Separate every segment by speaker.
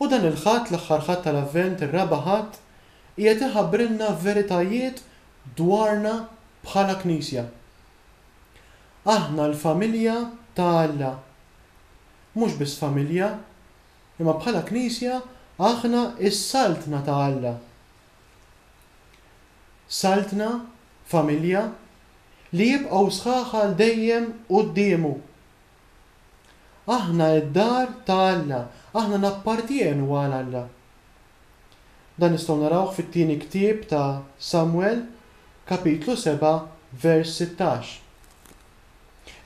Speaker 1: U dan il-Ħadd, l-aħħar Ħadd tal-Avvent, ir-Raba' Ħadd, qiegħed iħabbrilna veritajiet dwarna bħala Knisja. Aħna l-familja ta' Alla. Mhux biss familja, imma bħala Knisja aħna s-Saltna ta' Alla. Saltna, familja, li jibqgħu sħaħ għal dejjem quddiemu. Aħna d-dar ta' Alla, aħna nappartjenu għal Alla. Dan nistgħu narawh fit-Tieni Ktieb ta' Samwel, kapitlu 7, vers 16.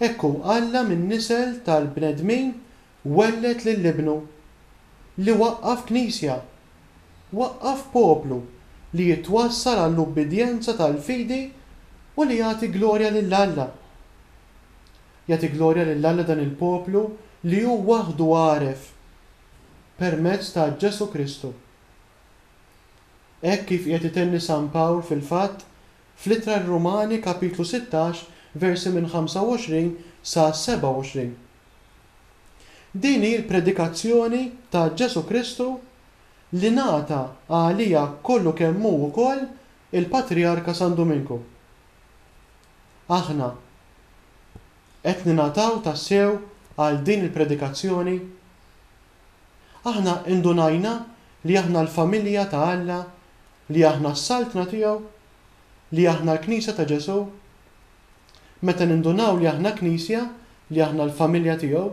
Speaker 1: Hekk hu Alla min-nisel tal-bnedmin welled lil Ibnu, li waqqaf Knisja, waqqaf poplu li jitwassal għall-ubbidjenza tal-fidi u li jagħti glorja lil Alla. Jagħti glorja lil Alla dan il-poplu li hu waħdu għaref permezz ta' Ġesù Kristu. Hekk kif qiegħed itenni San Pawl fil-fatt fl-Ittra r-Rumani kapitlu sittax versi minn 25 sa 27. Din hi l-predikazzjoni ta' Ġesù Kristu li ngħata għaliha kollu kemm hu wkoll il-Patrijarka San Duminku. Aħna qed ningħataw tassew għal din il-predikazzjoni? Aħna indunajna li aħna l-familja ta' Alla, li aħna s-Saltna tiegħu, li aħna l-Knisja ta' Ġesù? Meta nindunaw li aħna Knisja, li aħna l-familja tiegħu,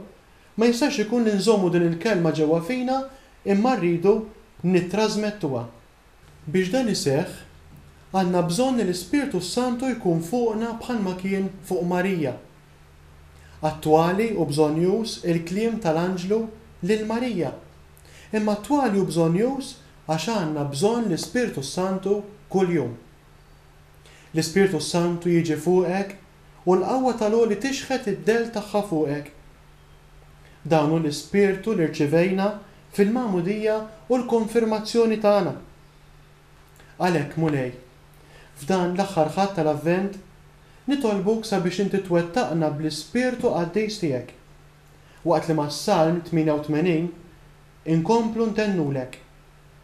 Speaker 1: ma jistax ikun li nżommu din il-kelma ġewwa fina imma rridu nittrażmettuha. Biex dan iseħħ, għandna bżonn li l-Ispirtu s-Santu jkun fuqna bħalma kien fuq Marija. Attwali u bżonnjuż il-kliem tal-anġlu lil Marija, imma attwali u bżonnjuż għax għandna bżonn l-Ispirtu s-Santu kuljum. L-Ispirtu s-Santu jiġi fuqek u l-qawwa tal-Għoli tixħet id-dell tagħha fuqek. Dan hu l-ispirtu li rċivejna fil-magħmudija u l-konfirmazzjoni tagħna. Għalhekk, Mulej, f'dan l-aħħar Ħadd tal-Avvent, nitolbuk sabiex inti twettaqna bl-ispirtu qaddis tiegħek, waqt li mas-Salm 88 inkomplu ntennulek.